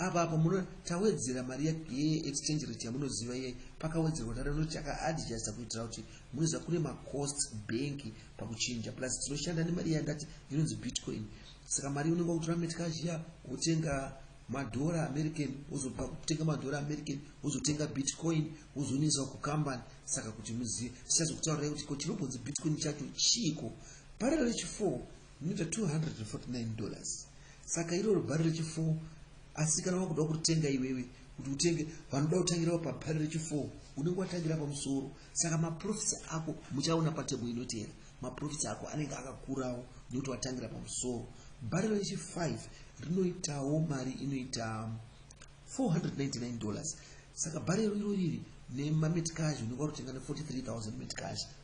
Apa apa muno tawedzera mari ye exchange rate yamunoziva ye pakawedzerwa tara rinoti taka adjusta kuitira kuti munoziva kune ma costs bank pakuchinja plus tinoshanda nemari yandati inonzi bitcoin saka mari unenge wakutora metcash ya wotenga madhora american wozobva kutenga madhora american wozotenga bitcoin wozonisa kucompany saka kuti muzive sichazokutaurai kuti ko chinobonzi bitcoin chacho chiiko parerero chi4 Zvinoita 249 dollars. Saka iro rubhari rechifour asi kana wakuda kuritenga iwewe kuti utenge vanoda kutangirawo pabhari rechifour unenge watangira pamusoro saka maprofits ako muchaona patebo inoteera maprofits ako anenge akakurawo nekuti watangira pamusoro bhari rechifive rinoitawo mari inoita 499 dollars saka bhari iro irori iri nemametcash unenge warutenga ne 43000 metcash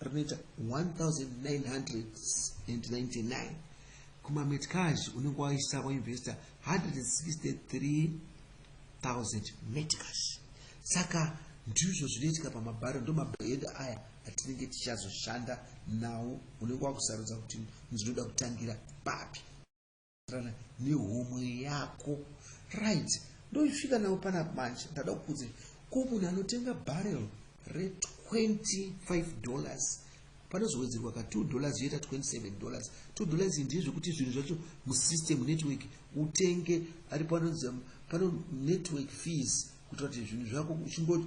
rinoita 1999 kumametcage unenge waisa wainvesta 163000 metcage saka ndizvo zvinoitika pamabharo ndo mabhayenda aya atinenge tichazoshanda nawo unenge wakusarudza kuti ndinoda kutangira papi kana nehomwe yako right ndosvika nawo pana manje ndada kukuudza ko munhu anotenga barrel re25 dollars panozowedzerwa ka 2 dollars yoita 27 dollars 2 dollars ndizvo zvekuti zvinhu zvacho musystem network utenge ari panonzi pano network fees kuitira kuti zvinhu zvako uchingoti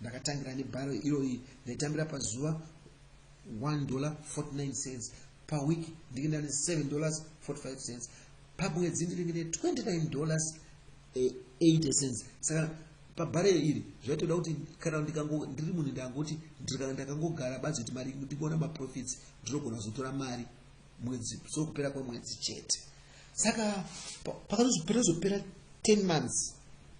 Ndakatangira nebharo iroyi ndaitambira pazuva 1 dollar 49 cents paweek ndinge ndane 7 dollars 45 cents pamwedzi ndinenge ne 29 dollars 80 eh, cents saka pabhare iri zvaitoda kuti kana ndikango ndiri munhu ndangoti ndikana ndakangogara badzi kuti mari ndingoona maprofits ndinogona kuzotora mari mwedzi so kupera kwemwedzi chete saka pakazopera zopera 10 months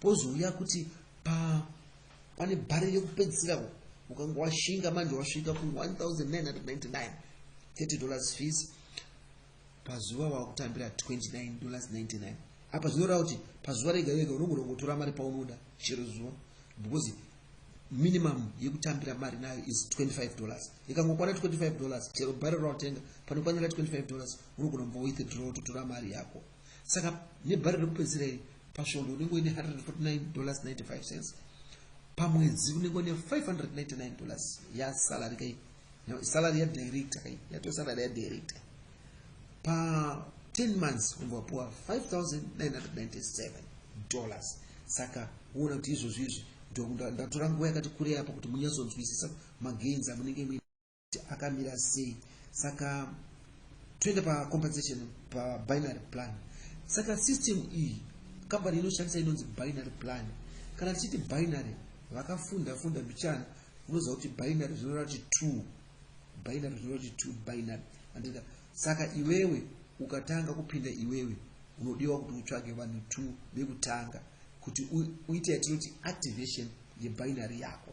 pozouya kuti pa pane bhari rekupedzisira ukanga washinga manje wasvika ku 1999 30 dollars fees pazuva wakutambira 29 dollars 99 apa zvinoreva kuti pazuva rega rega unogona kungotora mari paunoda chero zuva because minimum yekutambira mari nayo is 25 dollars ikangokwana 25 dollars chero bhari rawatenga panokwanira 25 dollars unogona kumva withdraw totora mari yako saka nebhari rekupedzisira iri pasvondo unenge uine 149 dollars 95 cents pamwedzi unenge une 599 dollars yasalary kai salary yadirector kai yatoo salary yadirector pa 10 months unenge wapuwa 5997 dollars saka uona kuti izvozvo izvi ndokuti ndatora nguva yakati kurei apo kuti munyatsonzwisisa magains amunenge muine akamira sei saka toenda pacompensation pabinary plan saka system iyi kambani inoshandisa inonzi binary plan kana tichiti binary vakafunda funda mbichana unoziva kuti binary zvinoreva kuti two binary zvinoreva kuti two binary andika saka iwewe ukatanga kupinda iwewe unodiwa kuti utsvage vanhu two vekutanga kuti uite yatinoti activation yebinary yako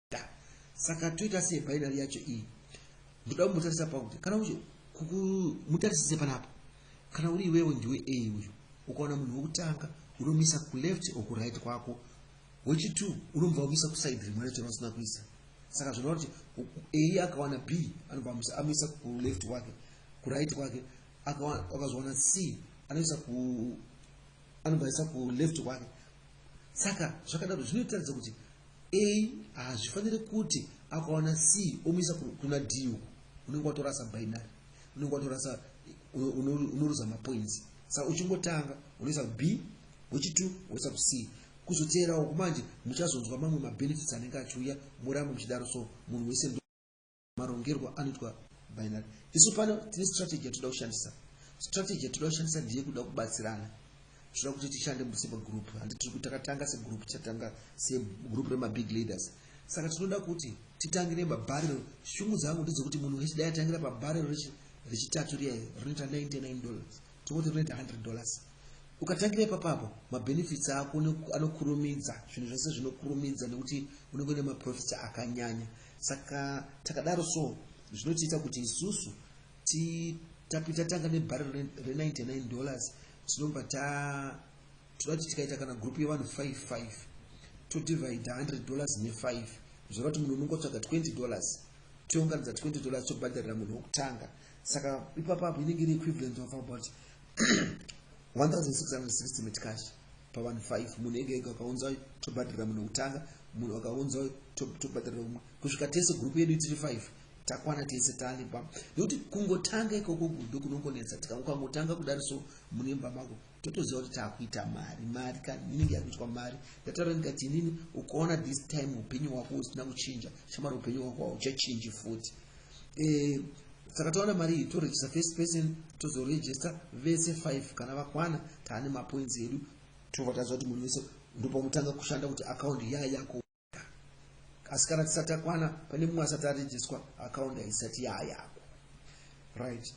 saka toita sei binary yacho iyi ndoda kumbotarisa pakuti kana ucho mutarisise panapa kana uri iwewe ndiwe a uyu ukaona munhu wekutanga unomisa kuleft or kuright kwako wechitwo unobva wamisa kuside rimwe racho rausina kuisa saka zvinova kuti a akawana b anobva amisa kuleft kwake kuright kwake akazowana c anoisa ku anobva aisa kuleft kwake Saka zvakadaro zvinotaridza kuti A hazvifanire kuti akawana C omuisa kuna D uku unenge watorasa binary unenge watorasa unoruza mapoints saka uchingotanga unoisa B wechitu woisa ku C kuzoteerawo kumanje muchazonzwa mamwe mabenefits anenge achiuya murambo muchidaro so munhu wese marongerwo anoitwa binary isu pano tine strategy yatoda kushandisa strategy yatoda kushandisa ndiye kuda kubatsirana zvoda kuti tishande semagroup handi tiri kuti takatanga segroup tichatanga segroup remabig leaders saka tinoda kuti titangire mabharero shungu dzangu ndedzekuti munhu wese dai atangira pabharero rechitatu riya rinoita 99 dollars Tingoti rinoita 100 dollars. Ukatangira ipapo apo mabenefits ako anokurumidza, zvinhu zvese zvinokurumidza nekuti unenge une maprofits akanyanya. Saka takadaro so zvinotiita kuti isusu tapita tanga nebarrel re99 dollars tinobva ta toda kuti tikaita kana group yevanhu 55 todivide 100 dollars ne5 zvoreva kuti munhu unongotsvaga 20 dollars tounganidza 20 dollars tobhadharira munhu wokutanga saka ipapa apo inenge iri equivalent of about 1660 metcash pavanhu 5 munhu ega ega akaunza uyu tobhadhira munhu wekutanga munhu akaunza uyu tobhadhira umwe kusvika tese gurupu yedu tiri 5 takwana tese tane pam nekuti kungotanga ikoko ndokunongonetsa tikangokangotanga kudari so mune mba mako totoziva kuti taakuita mari mari ka inenge yakuitwa mari ndataura ndikati inini ukaona this time upenyu hwako usina kuchinja shamari upenyu hwako hauchachinji futi eh, saka taona mari iyi toregister first person tozoregister vese five kana vakwana taane mapoints edu tobva taziva kuti munhu wese ndopamutanga kushanda kuti akaundi yaa yako asi kana tisati takwana pane mumwe asati arejiswa akaunda isati yayako right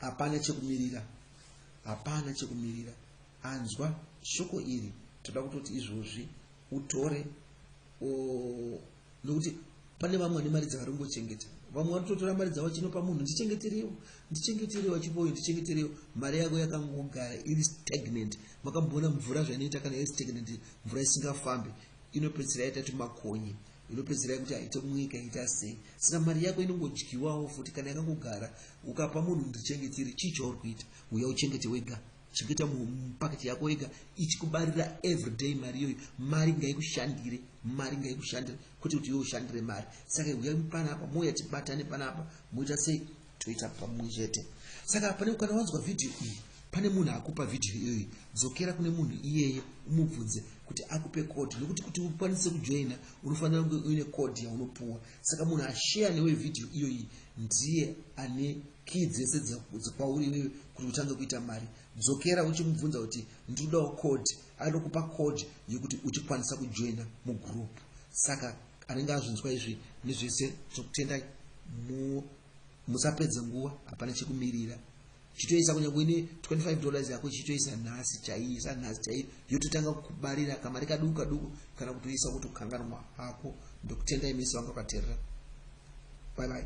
hapana chekumirira hapana chekumirira anzwa shoko iri toda kutoti izvozvi utore nokuti pane vamwe vane mari dzavari kungochengeta vamwe vari kutotora mari dzavo chinopa munhu ndichengeterewo ndichengeterewo chipoyo ndichengeterewo mari yako yakangogara iri stagnant makamboona mvura zvainoita kana iri stagnant mvura isingafambi inopedzisira yaita kuti makonye inopedzisira kuti haite munyika ita sei saka mari yako inongodyiwawo futi kana yakangogara ukapa munhu ndichengetere chii chauri kuita uya uchengete wega chengeta mupaketi yako wega ichikubarira everyday mari iyoyo mari ngaikushandire mari ngaikushandire kwete kuti iwe ushandire mari saka huyai panapa mouya tibatane panapa moita sei toita pamwe chete saka pane kana wanzwa vhidhiyo iyi pane munhu akupa vhidhiyo iyoyi dzokera kune munhu iyeye umubvunze kuti akupe kodhi nekuti kuti ukwanise kujoina unofanira kunge uine kodhi yaunopuwa saka munhu asheya newe vhidhiyo iyoyi ndiye ane Key dzese dzekwauri iwewe kuti utange kuita mari. Dzokera uchimubvunza kuti ndinodawo code. Anokupa code yekuti uchikwanisa kujoina mugroup. Saka anenge azvinzwa izvi nezvese zvokutendai mu musapedze nguva hapana chekumirira. Chitoisa kunyange ine 25 dollars yako chitoisa nhasi chaiisa nhasi chaiyo yototanga kukubarira kamari kaduku kaduku kana kutoisa kuti ukanganwa hako ndokutendai mese vanga vakaterera. Bye bye.